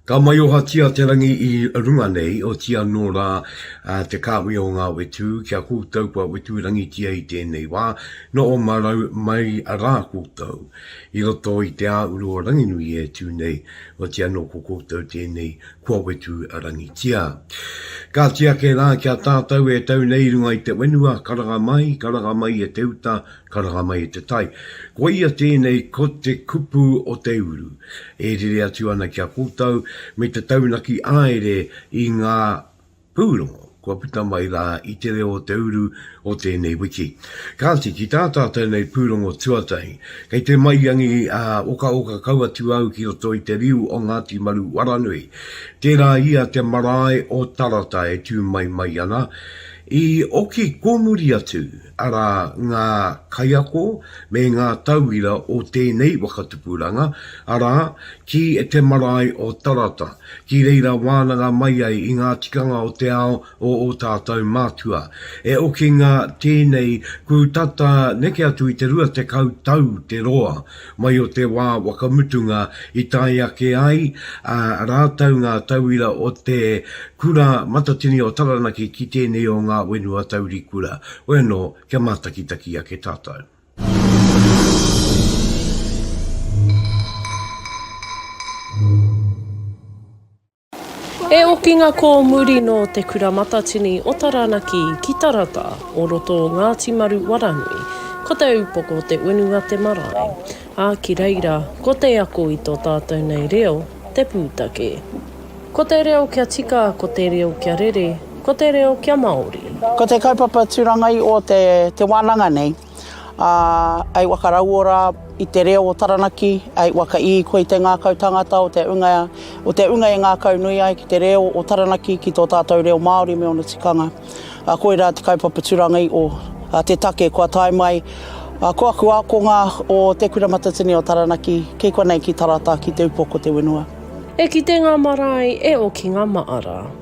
Ka maiohatia te rangi i runga nei, oti anō rā te kāhui o ngā whetū ki a koutou kua whetūrangitia i tēnei wā, nō Omarau mai rā koutou, i roto i te āuru o Ranginui e tū nei, oti anō ko koutou tēnei kua wetu rangitia. Kāti ake rā ki a tātou e tau nei runga i te wenua, karanga mai, karanga mai e te uta, karanga mai e te tai. Koia tēnei ko te kupu o te uru, e rere atu ana ki a koutou me te taunaki āere i ngā Pūrongo, kua puta mai rā i te reo o te uru o tēnei wiki. Kāti, ki tā tātou nei pūrongo tuatahi, kei te maiangi ā, okaoka kau atu au ki roto i te riu o Ngāti Maru Waranui. Tērā ia te marae o Tarata e tū mai mai ana, i oki kōmuri atu, arā, ngā kaiako me ngā tauira o tēnei waka tupuranga, arā, ki te marae o Tarata, ki reira wānanga mai ai i ngā tikanga o te ao o ō tātou mātua. E okinga tēnei, kū tata neke atu i te rua tekau tau te roa, Mai o te wā whakamutunga i tae ake ai ā rātou ngā tauira o te Kura Matatini o Taranaki ki tēnei o ngā whenua taurikura, hoi anō, kia mātakitaki ake tātou. He okinga kōmuri nō Te Kura Matatini o Taranaki ki Tarata o roto o Ngāti Maru Waranui, ko te upoko te unu a te marae, ā, ki reira ko te ako i tō tātou nei reo te pūtake. Ko te reo kia tika, ko te reo kia rere, ko te reo kia Māori. Ko te kaupapa turangai o te wānanga nei. ā, hei waka rauora i te reo o Taranaki, hei waka īko i te ngākau tangata o te unga, o te unga e ngākau nui ai ki te reo o Taranaki, ki tō tātou reo Māori me ōna tikanga. Ā, koirā te kaupapa turanga i o, ā, te take kua tae mai, ā, ko aku ākonga o Te Kura Matatini o Taranaki, kei konei ki Tarata, ki te upoko te whenua. E kite ngā marae, e oki ngā maara.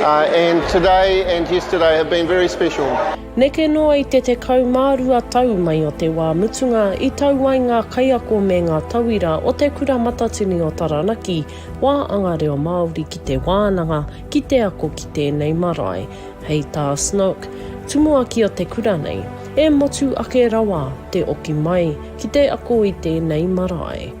And today and yesterday have been very special. Neke noa i te 12 tau mai o te wā mutunga i tau ai ngā kaiako me ngā tauira o Te Kura Matatini o Taranaki wā anga reo Māori ki te wānanga, ki te ako ki tēnei marae. Hei tā Snook, tumuaki o te kura nei, e motu ake rawa te oki mai ki te ako i tēnei marae.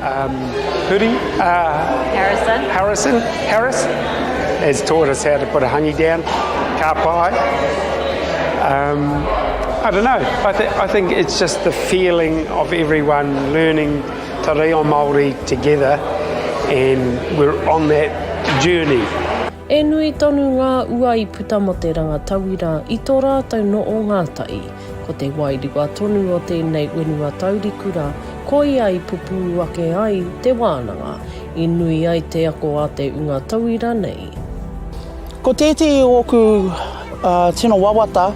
Um, Huri, uh, Harrison. Harrison, Harris, has taught us how to put a hangi down, ka pai. Um, I don't know, I, th I think it's just the feeling of everyone learning te reo Māori together and we're on that journey. E nui tonu ngā ua i puta mo te ranga tauira i to rātou no o Ngātai. Ko te wairua tonu o tēnei whenua tauriku rā, koia i pupū ake ai te wānanga, i nui ai te ako a te unga tauira nei. Ko tētehi o ōku tino wawata,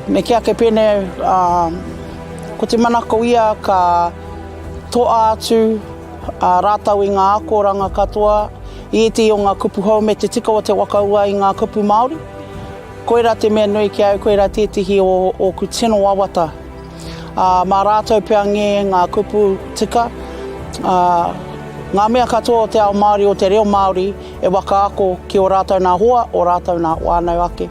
me kī ake pēnei, ko te manako ia ka toa atu rātou i ngā akoranga katoa i ētehi o ngā kupu hou me te tika o te wakaua i ngā kupu Māori. Koirā te mea nui ki au, koirā tētehi o ōku tino wawata. Ā, mā rātou pea ngē ngā kupu tika, ā, ngā mea katoa o te ao Māori, o te reo Māori e wakaako ki ō rātou nā hoa, ō rātou nā whānau ake.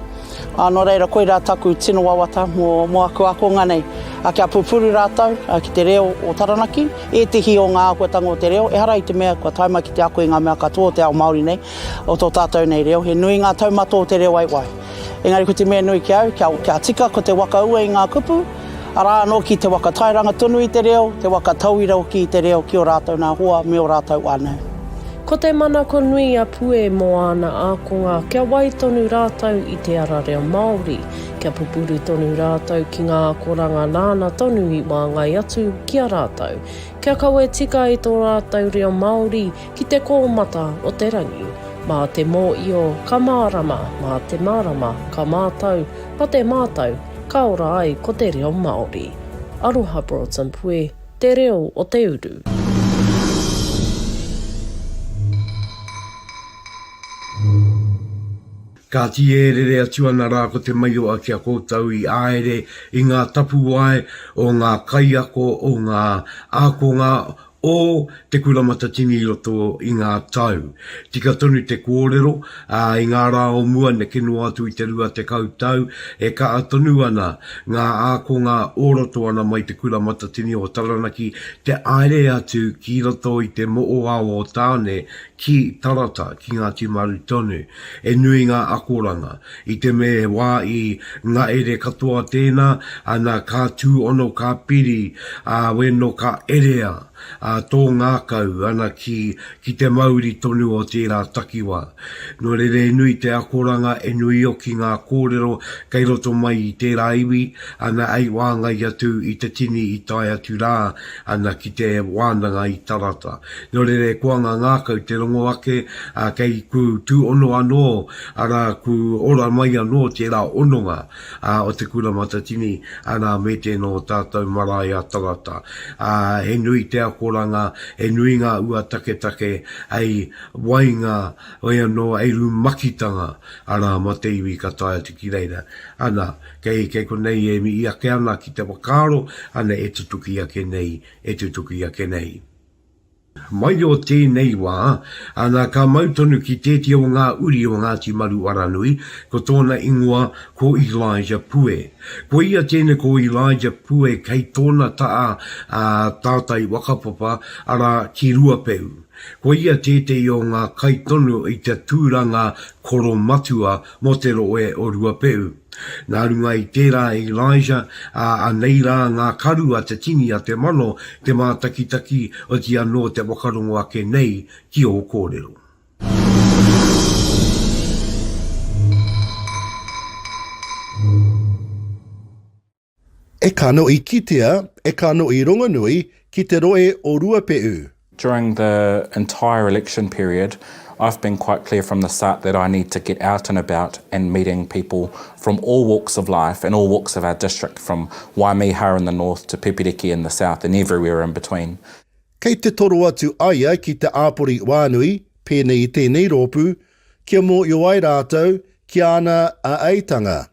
Ā, nō reira, koirā taku tino wawata mō, mō aku ākonga nei, ā, kia pupuru rātou, ā, ki te reo o Taranaki, ētehi o ngā āhuatanga o te reo, ehara i te mea kua tae mai ki te ako i ngā mea katoa o te ao Māori nei, o tō tātou nei reo, he nui ngā taumato o te reo waiwai. Engari ko te mea nui ki au, kia, kia tika ko te waka ua i ngā kupu, arā anō ki te waka tairanga tonu i te reo, te waka tauira hoki i te reo ki ō rātou nā hoa me ō rātou whānau. Ko te manako nui a Pue mō āna ākonga kia wai tonu rātou i te ara reo Māori, kia pupuru tonu rātou ki ngā akoranga nāna tonu i wāngai atu ki a rātou, kia kawe tika i tō rātou reo Māori, Ki te kōmata o te rangi, mā te mōio ka mārama, mā te mārama ka mātau, mā te mātau ka ora ai ko te reo Māori. Aroha Broughton Pue, Te Reo o te Uru. Kāti e rere atu ana rā ko Te Maioa ki a koutou i āere i ngā tapuwae o ngā kaiako o ngā ākonga o Te Kura Matatini i roto i ngā tau. Tika tonu te kōrero, ā, i ngā rā o mua neke noa atu i te rua tekau tau, e kaha tonu ana ngā ākonga o roto ana mai Te Kura Matatini o Taranaki te aere atu ki roto i te moʻoao o Tāne ki Tarata, ki Ngāti Maru tonu. He nui ngā akoranga. I te me he wā i ngaere katoa tēnā, ana ka tūono ka piri a weno ka erea a tō ngākau ana ki ki te mauri tonu o tērā takiwā. No rere he nui te akoranga he nui oki ngā kōrero kei roto mai i tērā iwi ana hei wāngai atu i te tini i tae atu rā ana ki te wānanga i Tarata. Nō reira kua ngā ngākau te rongo ake, ā, kei kū tūono anō, arā, kū ora mai anō tērā ononga, ā, o te Kura Matatini, arā, me tēnō tātou marae a Tarata. Ā, he nui te akoranga, he nui ngā ua taketake, hei wainga, hoi anō, hei rumakitanga, arā, ma te iwi ka tae atu ki reira. Ana, kei, kei konei e mihi ake ana ki te whakaaro, ana e tutuki ake nei, e tutuki ake nei. Mai o tēnei wā, ana ka mau tonu ki tētia o ngā uri o Ngāti Maruaranui, ko tōna ingoa ko Elijah Pue. Ko ia tēnei ko Elijah Pue kei tōna taha a tātai Wakapapa, arā, ki Ruapeu. Ko ia tētehi o ngā kai tonu i te tūranga koromatua mō te rohe o Ruapehu. Nā runga i tērā e Elijah, ā, anei rā ngā karu a te tini a te mano, te mātakitaki, otirā anō te whakarongo ake nei ki ō kōrero. E kano i kitea, e kano i rongonui ki te roe o Ruape'u. During the entire election period I've been quite clear from the start that I need to get out and about and meeting people from all walks of life and all walks of our district from Waimiha in the north to Pepiriki in the south and everywhere in between. Kei te toro atu aia ki te āpori wānui, pēnei i tēnei rōpū, kia mōhio ai rātou ki āna āeitanga.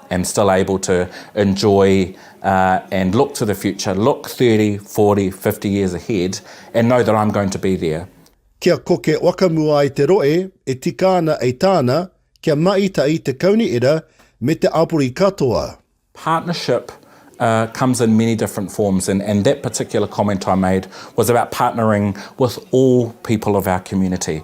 and still able to enjoy and look to the future, look thirty, forty, fifty years ahead and know that I'm going to be there. Kia koke wakamua ai te roe e tika ana ei tāna kia maitai te kauni era me te abori katoa. Partnership comes in many different forms and and that particular comment I made was about partnering with all people of our community.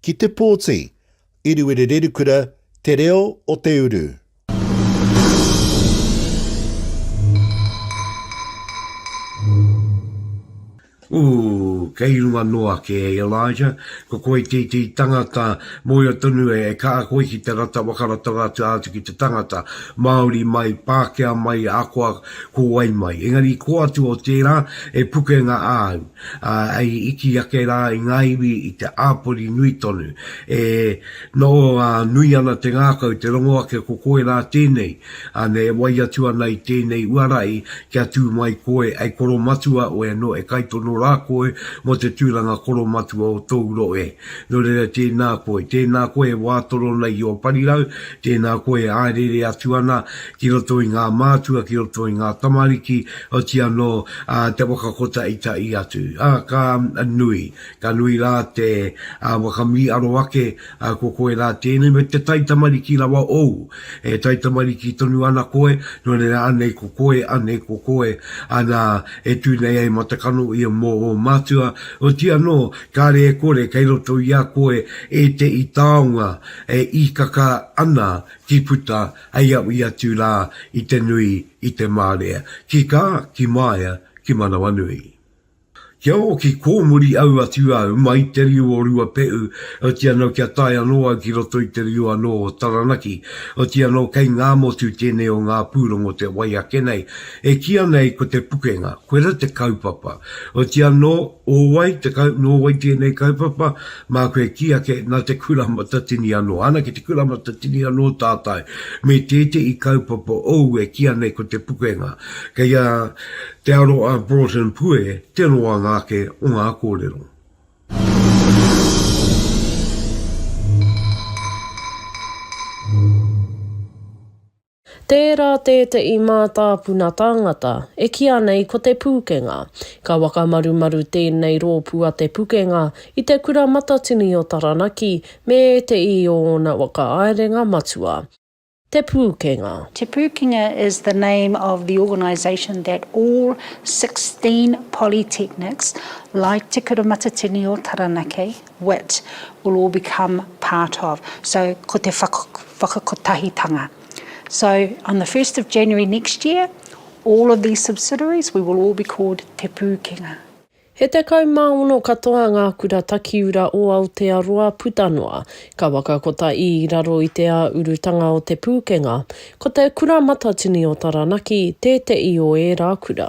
Ki te pōti, Iruwerererukura, te reo o te uru. Ooh, kei runga noa ake e Elijah, ko koe titi tangata moea tonu e ka a koe ki te rata whakaratanga atu atu ki te tangata, Maori mai, Pakea mai, akoa ko wai mai. Engari ko atu o tera e pukenga a au. Ā, hei iti ake rā i ngā iwi i te āpori nui tonu, e noho ā, nui ana te ngākau, te rongo ake ko koe rā tēnei, ā, nei e wai atu ana i tēnei uarahi kia tū mai koe, hei koromatua oe anō e kaitono rā koe mō te tūranga koromatua o tōu rohe e. Nō reira tēnā koe, tēnā koe e wā torona i ō parirau, tēnā koe e āereere atu ana ki roto i ngā mātua, ki roto i ngā tamariki, oti anō te whakakotaitaʻi atu. A, ka nui, ka nui rā te whakamīʻaro ake, ko koe rā tēnei, me te taitamariki rawa ōu, e taitamariki tonu ana koe, nō reira anei ko koe, anei ko koe, ana, e tū nei ai matakano ia mō ō mātua, oti anō, kāre e kore, kei roto i a koe ēteʻi taonga e īkaka ana ki puta, Hei au i atu rā i te nui, i te mārea. Ki kā, ki māia, ki manawanui. Kia ōki kōmuri au atu au mai te riu o Ruapehu, oti anō kia tae anō au ki roto i te riu anō o Taranaki, oti anō kei Ngāmotu tēnei o ngā pūrongo te wai ake nei, e kīa nei ko te pukenga, koira te kaupapa, oti anō, O wai te kau, nō wai tēnei kaupapa, māku e kī ake, nā te Kura Matatini anō. Ana ki te Kura Matatini anō tātai, me tētehi kaupapa ou e kīa nei ko te pukenga. Kei a Te Aroha Broughton Pue te roanga ake o ngā kōrero. Tērā tēteʻi mātāpuna tāngata e kīa nei ko Te Pūkenga. Ka whakamarumaru tēnei rōpū a Te Pukenga i te Kura Matatini o Taranaki me ēteʻi o ōna whakaaerenga matua. Te Pūkenga. Te Pūkenga is the name of the organisation that all sixteen polytechnics like Te Kura Matatini o Taranaki wit will all become part of, so ko te whakakotahitanga. So on the first of January next year, all of these subsidiaries, we will all be called Te Pūkenga. He tekau mā ono katoa ngā kura takiura o Aotearoa puta noa, ka wakakota i raro i te ā urutanga o Te Pūkenga. Ko te Kura Matatini o Taranaki tēteʻi o ērā kura.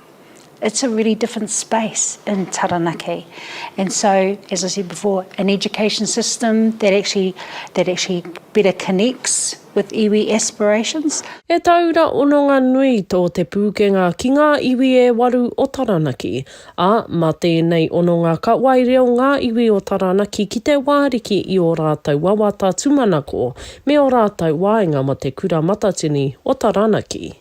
It's a really different space in Taranaki and so as I said before an education system that actually that actually better connects with iwi aspirations. He tauira ononga nui tō Te Pūkenga ki ngā iwi e waru o Taranaki, ā, mā tēnei ononga ka wae reo ngā iwi o Taranaki ki Te Wāriki i ō rātou wawata tūmanako me ō rātou waenga mō Te Kura Matatini o Taranaki.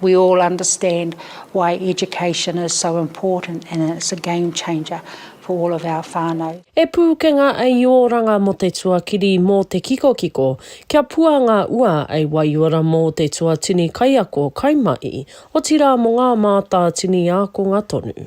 We all understand why education is so important and it's a game changer for all of our whanau. E Pūkenga a i oranga mo te tuakiri mo te kikokiko kia pua nga ua a i waiora mo te tuatini kaiako kai mai, otira mo nga mātātini ākonga tonu.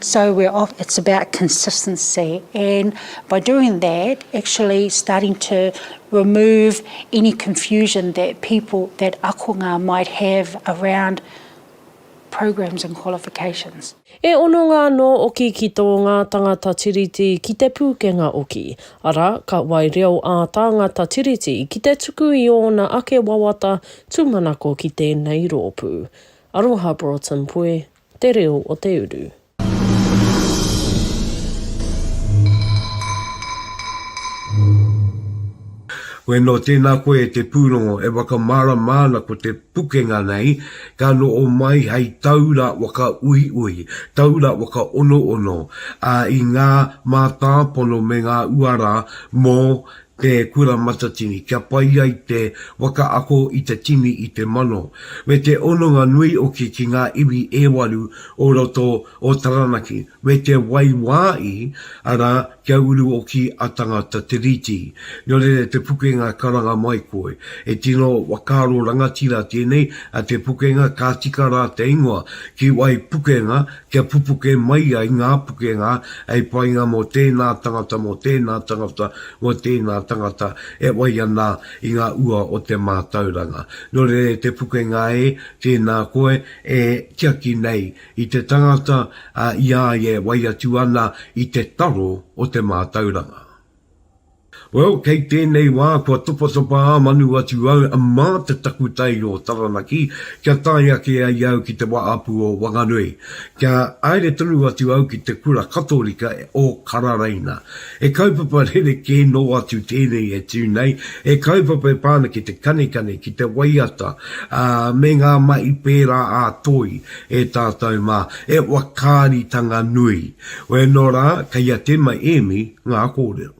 So we're off, it's about consistency and by doing that actually starting to remove any confusion that people, that akonga might have around programs and qualifications. E hononga anō oki ki tō ngā tangata Tiriti ki te pūkenga oki, arā, ka wai reo ā tāngata Tiriti ki te tuku i ōna ake wawata tūmanako ki tēnei rōpū. Aroha Broughton Puē. Te reo o te uru. Koe no tēnā koe te pūrongo e whakamārama ana ko te pukenga nei ka noho mai hei taura whakauiui, taura whakaonoono, ā, i ngā mātāpono me ngā uara mō Te Kura Matatini, kia pai ai te waka ako i te tini i te mano. Me te hononga nui hoki ki ngā iwi e waru o roto o Taranaki, me te waiwāi, arā, kia uru hoki a Tangata Tiriti. Nō reira te pukenga karanga mai koe. He tino whakaaro rangatira tēnei a Te Pukenga, ka tika rā te ingoa ki wai pukenga, kia pupuke mai ai ngā pukenga hei painga mō tēnā tangata, mō tēnā tangata, mō tēnā tangata e whai ana i ngā ua o te mātauranga. Nō reira te pukenga e, tēnā koe e tiaki nei i te tangata i a ia e whai atu ana i te taro o te mātauranga. Well, kei tēnei wā kua topatopa ā manu atu au mā te takutai o Taranaki kia tae ake ai au ki te Wahapū o Wanganui. Kia haere tonu atu au ki te kura Katorika o Kararaina. He kaupapa rerekē nō atu tēnei e tū nei, he kaupapa e pā ana ki te kanikani, ki te waiata, ā, me ngā mahi pērā ā-toi e tātou mā, he whakaaritanga nui. Whea no ra kei a Te mai Emi nga korero.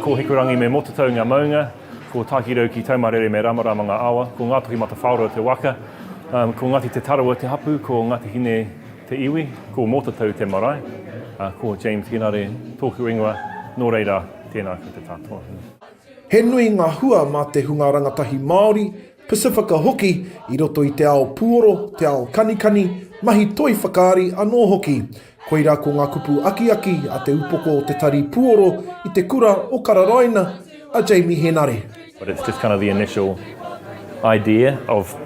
Ko Hikurangi me Motatau nga maunga, ko Takirau ki Taumarere me Ramarama nga awa, ko Ngatohi Matawhaoroa te waka, ko Ngati Te Tarawa te hapu, ko Ngati Hine te iwi, ko Motatau te marae. Ko James Hinare toku ingoa, no reira, tena koutou katoa. He nui ngā hua mā te hunga rangatahi Māori, Pasifika hoki, i roto i te ao puoro, te ao kanikani, mahi toi whakaari anō hoki. Koirā ko ngā kupu akiaki a te upoko o te tari puoro i te kura o Kararaina, a Jamie Henare. But it's just kind of the initial idea of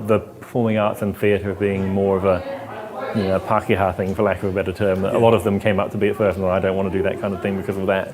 the performing arts and theatre being more of a you know, Pākehā thing for lack of a better term. A lot of them came up to be at first and thought, I don't want to do that kind of thing because of that.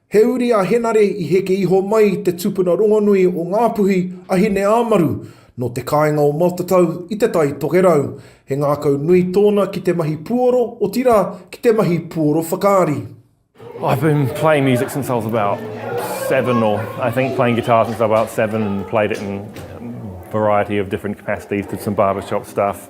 He uri a Henare i heke iho mai i te tupuna rongonui o Ngāpuhi a Hineāmaru nō te kāinga o Matatau i Te Tai Tokerau. He ngākau nui tōna ki te mahi puoro, otirā, ki te mahi puoro whakaari. I've been playing music since I was about seven or I think playing guitar since I was about seven and played it in a variety of different capacities, did some barbershop stuff,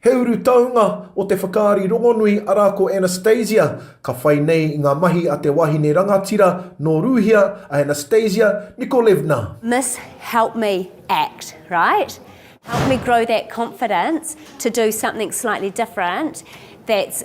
He urutaunga o te whakaari rongonui arā ko Anastasia, ka whai nei i ngā mahi a te wahine rangatira nō Rūhia, a Anastasia Nikolevna. Miss help me act, right? Help me grow that confidence to do something slightly different that's.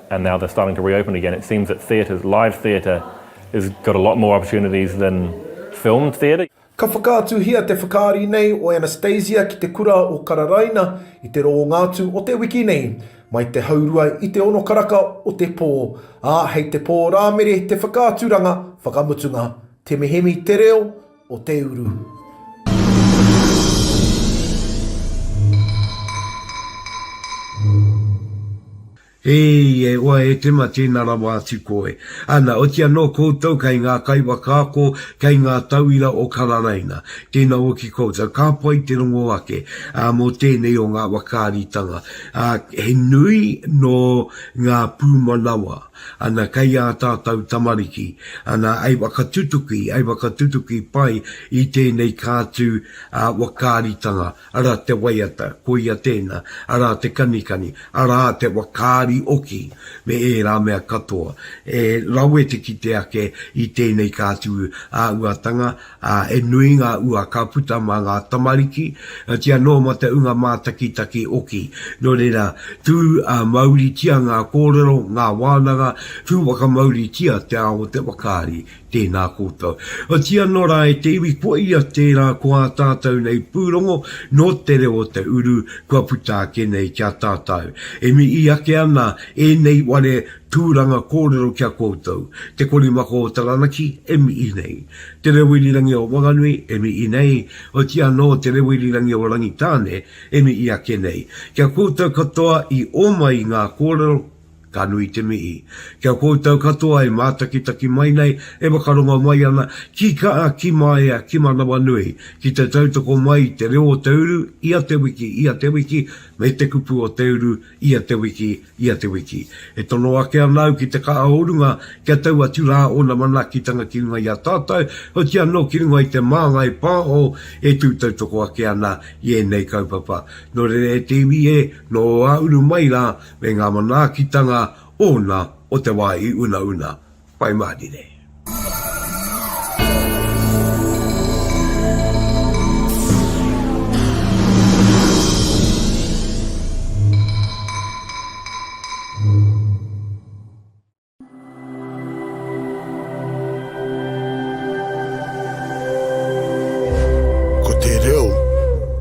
and now they're starting to reopen again, it seems that theatre, live theatre has got a lot more opportunities than filmed theatre. Ka whakaatuhia te whakaari nei o Anastasia ki te kura o Kararaina i te rōnga atu o te wiki nei, mai te haurua i te ono karaka o te pō, ā, hei te pō Rāmere te whakaaturanga whakamutunga. Te mihemi te reo o te uru. Eii, e oa e Tema tēna rawa atu koe. Ana, oti anō koutou kei ngā kaiwhakaako, kei ngā tauira o Kararaina. Tēna hoki koutou, ka pai te rongo ake, ā, mō tēnei o ngā whakaaritanga, ā, he nui nō ngā pūmanawa, ana, kei ā tātou tamariki, ana, ei whakatutuki, ei whakatutuki pai i tēnei kātū, ā, whakaaritanga. Arā te waiata, koia tēnā, arā te kanikani, arā te wakaari oki, me ērā mea katoa. E rawe te kite ake i tēnei ka atu āhuatanga, ā, he nui ngā ua ka puta mā ngā tamariki, otirā anō mā te ūnga mātakitaki oki. Nō reira, tū mauritia ngā kōrero, ngā wānanga, tū whakamauritia te ao o te wakaari Tēnā koutou. Otiia nō rā e te iwi kua ia tērā ko ā tātou nei pūrongo nō te reo o te uru kua puta ake nei ki a tātou. E mihi ake ana ēnei ware tūranga kōrero ki a koutou. Te Korimako o Taranaki e mihi nei. Te Reo Irirangi o Wanganui e mihi nei, otiia anō Te Reo Irirangi o Rangitāne e mihi ake nei. Ki a koutou katoa i ōmai i ngā kōrero, Ka nui te mihi. Ki a koutou katoa e mātakitaki mai nei, e whakarongo mai ana ki kaa, ki maea, ki manawanui, ki te tautoko mai i te reo o te uru ia te wiki, ia te wiki, me te kupu o te uru ia te wiki, ia te wiki. E tono ake ana au ki te kaa o runga kia tau atu rā ōna manaakitanga ki runga i a tātou, oti anō ki runga i te māngai pāho e tū tautoko ake ana i ēnei kaupapa. Nō reira e te iwi e, nō ā uru mai rā, Me ngā manaakitanga ōna o te wā i unauna. Whai mahari nei. Ko te reo.